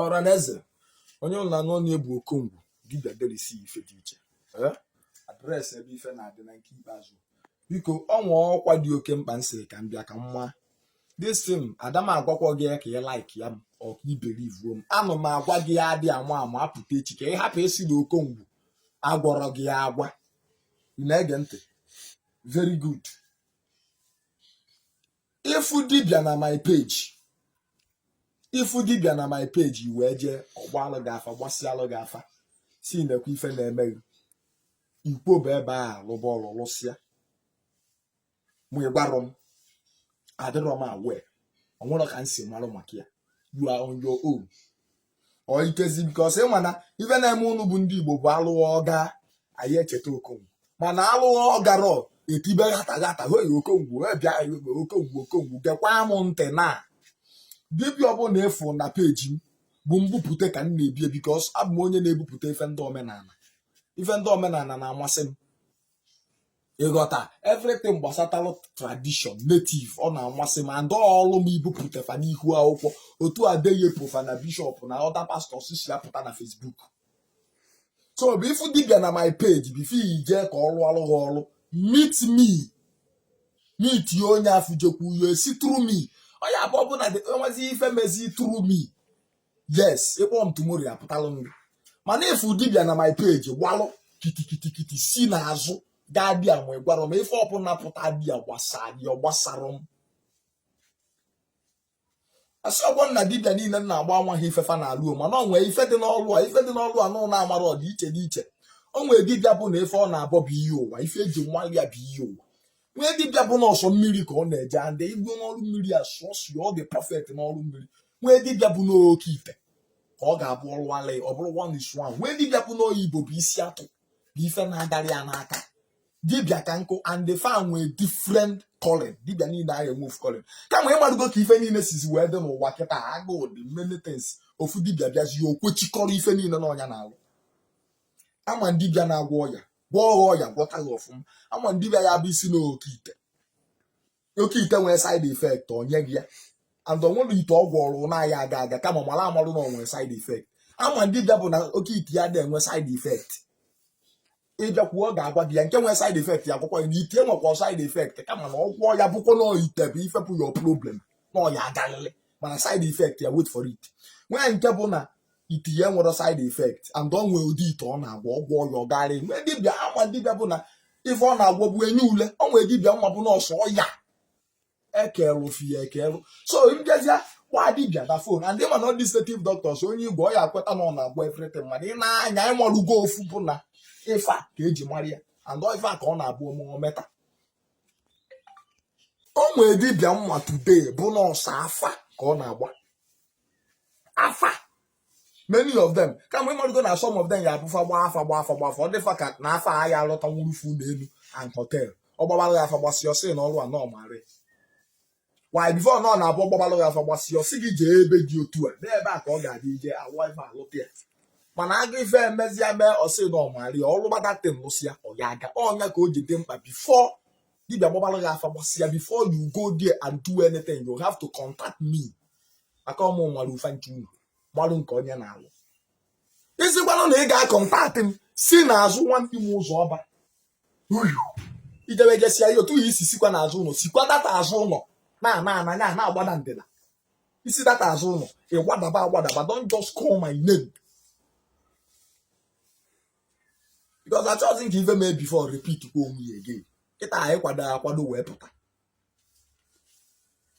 ọra na eze onye ụnụ na-anụ onu ya bụ okongwu dibịa delisi ife dị iche Eh? adreesị ebe ife na-adị na nke ikpeazụ biko o nwee ọkwa dị oke mkpa m sịrị ka m bịa ka m maa this thing ada m agwakwa gị ya ka ị like ya m ọ ka ị believuo m ana m agwa gị ya adị ama ama apụta echi ka ị hapụ ịsị na okongwu agwarọ gị ya agwa ị na-ege ntị very good ịfụ dibịa na my page ịfụ dibịa na my page i wee jee ọ gbalụ gị afa gbasịalụ gị afa sị nekwa ife na-eme gị ikwo bụ ebe a lụba ọlụ lụsịa ma ị gwarọ m adịrọ m aware o nwerọ ka m si marụ maka ya you are on your own ọ ikezi because ị ma na ife na-eme ụnụ bụ ndị igbo bụ alụa ọ gaa anaghị echeta okongwu mana alụa ọ garọ etibe ghata ghata hoi okongwu bịa okongwu okongwu gekwa m ntị na dibịa ọbụla ị fụ na peji m bụ mbupụta ka m na-ebu ya because abụ m onye na-ebupụta ife ndị omenala ife ndị omenala na-amasị m ịghọta everything gbasatalụ tradition native ọ na-amasị m and ọlụ m ibupụta fa n'ihu akwụkwọ otu Adeyepo fa na bishọp na other pastors si apụta na Facebook so bụ ị fụ dibia na my page before i je ka ọ rụalụ gị ọrụ meet me meet ya onye afụ jekwu ya si through me ọ ya-abụ ọ bụ na enwezi ife mezi through me yes ị kpọ m tomorrow apụtalụ m gị mana ị fụ dibia na my page gbalụ kitikitikiti si n'azụ gaa there ma ị gwarọ m ife ọbụla pụta there gbasara ya ọ gbasarọ m asịrọkwọ m na dibia niile m na-agba amaghị ife fa na-alụ o mana ọ nwee ife dị n'ọlụ a ife dị n'ọlụ a ụnụ na-amarọ ọ dị iche dị iche o nwee dibia bụ na ife ọ na-abọ bụ iyi ụwa ife eji malụ ya bụ iyi ụwa nwee dibịa bụ n'ụsọ mmiri ka ọ na-eje and igwe n'ọrụ mmiri asụsụ ọ dị perfect n'ọrụ mmiri nwee dibịa bụ n'oke ite ka ọ ga-abụ ọ rụa ya ọ bụrụ one is one nwee dibịa bụ n'oyibo bụ isi atụ bụ ife na-agarị ya n'aka dibịa ka nkụ and fa nwee different calling dibịa niile anaghị enwe ofu calling kama ịmarugo ka ife niile sizi wee dị n'ụwa kịta agụụ dị many things ofu dibịa bịazie okwechikọrọ ife niile na ọ ya na-alụ ama dibịa na-agwọ ọya gwọọ ha ọya gwọta ha ọfụma ama dibịa ya bụ isi na oke ite oke ite nwere side effect o nye gị ya and onwere ite ọ gwọrọ na ya aga aga kama mara amarụ na onwere side effect ama dibịa bụ na oke ite ya na-enwe side effect ịbịakwuo ọ ga-agwa gị ya nke nwere side effect ya ekwukwa na ite nwekwa side effect kama na ọ gwọ ya bụkwa na ite bụ ife bụ your problem na ọ ya-agalịlị mana side effect ya wait for it nwee nke bụ na ite ya nwere side effect and ọ nwee ụdị ite ọ na-agwọ ọgwọ ọya ọgarị nwee dibịa m ma dibịa bụ na ife ọ na-agwọ bụ enyi ule ọ nwee dibịa m ma bụ na ọ sọ ọya ekelụ fi ya ekelụ so m bịazịa gwa dibịa na phone and ị ma na ndị native doctors onye igwe ọ ya ekweta na ọ na-agwọ everything mana ị na-anya ị malụgo ofu bụ na ife a ka eji mara ya and ife a ka ọ na-abụ ọmụmụ meta o nwee dibịa m ma today bụ na ọ sọ afa ka ọ na-agba afa many of them kama ị marụgo na some of them ya abụ fa gba afa gba afa gba afa ọ dị fa ka na fa ya alụta nwurufu n'elu and hotel ọ gbabalụ ya afa gbasịa ọ sị na ọrụ a na ọ marọ why before na ọ na-abụ ọ gbabalụ ya afa gbasịa ọ sị gị jee ebe dị otu a n'ebe a ka ọ ga-adị ije awa ife alụta ya mana aga ife emezia mee ọ sị na ọ marọ ya ọrụ gbada tin lụsịa ọ ya aga ọ nya ka o ji dị mkpa before dibia gbabalụ ya afa gbasịa before you go there and do anything you have to contact me maka ọ mụ mara fa ncha unu gbalụ nke onye na-alụ ị sịkwanụ na ị ga-akọntaktị m si n'azụ nwanne m ụzọ ọma i jebe jesia ya otu i si sikwa n'azụ ụlọ sikwa that azụ ụlọ na-ana ana ya na-agbada ndịna i si that azụ ụlọ ị gbadaba agbadaba don't just call my name because achọghịzi m ka ife mee before repeat kwa onwe ya again kịta anyị kwado akwado wee pụta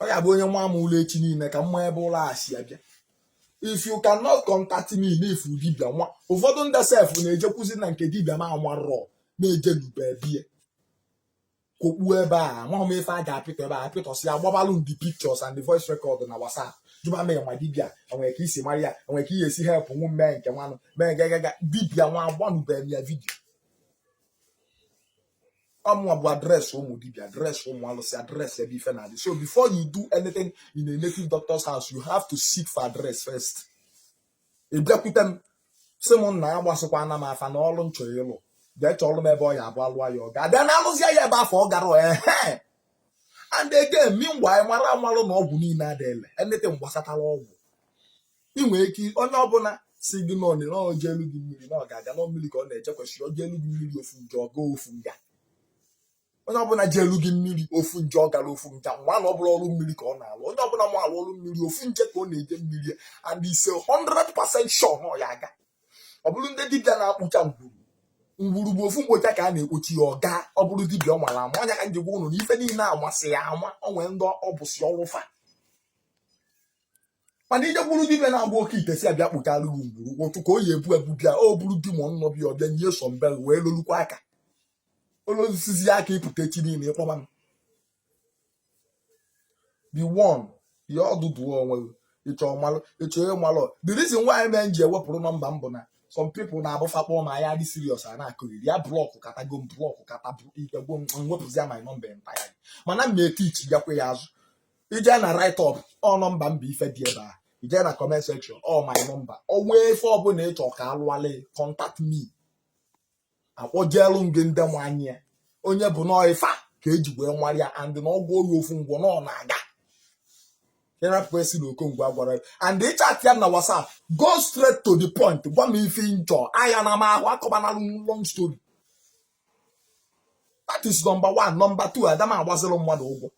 ọ ya bụ onye nwa m ụlọ echi niile ka m ma ebe ụlọ a si abịa if you cannot contact me n'ifu dibia nwa ụfọdụ ndị sef na-ejekwuzi na nke dibia m marọ na-eje n'ube bie kokpuo ebe a amaghị m ife a ga-apịtọ ebe a apịtọsị ya gbabalụ ndị pictures and the voice record na WhatsApp jụba m ma dibia e nwere ka i si mara ya e nwere ka ị ya esi help nwu mee nke nwanụ mee gagaga dibia nwa agbanụbeghị ya vidio ọ mụwa bụ address ụmụ dibia address ụmụ alụsị address ebe ife na-adị so before you do anything in a native doctor's house you have to seek for address first ị bịakwute m sị m nna agbasịkwaana m afa na ọrụ m chọ ịlụ jee chọọrụ m ebe ọ ya abụ alụwa ya ọ ga-abịa na alụzia ya ebe afụ ọ gara ehe and again meanwhile mara amalụ na ọgwụ niile adị ile anything gbasatara ọgwụ ị nwere ike onye ọbụla sị gị na o jeelụ gị mmiri na ọ ga-aga na mmiri ka ọ na-eje kwesịrị o jeelụ gị mmiri ofu nje ọ gaa ofu nga onye ọbụla jeelụ gị mmiri ofu nje ọ garọ ofu nga mara na ọ bụrọ ọrụ mmiri ka ọ na-alụ onye ọbụla ma alụ ọrụ mmiri ofu nje ka ọ na-eje mmiri and he's 100% sure na ọ ya aga ọ bụrụ ndị dibịa na-ekpocha ngwuru ngwuru bụ ofu mkpocha ka a na-ekpocha ya ọ gaa ọ bụrụ dibịa ọ mara ama ọ nya ka m ji gwa ụnụ na ife niile amasịa ama ọ nwee ndị ọ bụsị ọrụ fa mana i jekwuru dibịa na-agba oke ite si abịa kpụtara gị ugboro ụkwụ ka o yi ebu ebu bịa o buru di ma ọnụnọ bịa ọbịa nye so mbe wee lolukwa aka olosizi aka ị pụta echi niile ị kpọba m the one ya ọdụdụ onwe gị ị chọọ malụ ịchọ ihe malụ the reason why men ji ewepụrụ nọmba m bụ na some people na-abụ fa kpọọ ma ya dị serious a na-akọghịrị ya blọkụ katago m blọkụ kata ike gwụ m wepụzia my nọmba entire mana m na-etichigakwa ya azụ i je na write up ọ nọmba m bụ ife dị ebe a i je na comment section ọ my nọmba o nwee ife ọbụla ị chọ ka alụwale contact me akpọjeelu m gị ndị nwanyị ya onye bụ nọọ ife a ka eji wee nwara ya and na ọgwụ oyi ofu ngwọ na ọ na-aga ịrapụ esi na okongwu agwara ya and ị chat ya na whatsapp go straight to the point gwa m ife ị na-achọ aya na m ahụ akọbanalụ long story that is number one number two ada m agbaziri mmadụ ụgwọ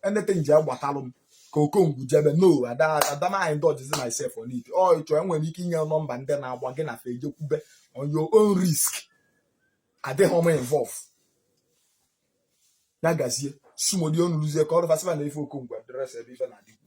anything ji agbatalụ m ka okongwu jebe no ada ada m a-indulgezi myself on it ọ ị chọọ enwere ike inye nọmba ndị na-agba gị na fa jekwube on your own risk adịghị m involve ya gazie smooth onuluzie ka ọrụ fasifa na ife okongwu address ebe ife na-adịkwu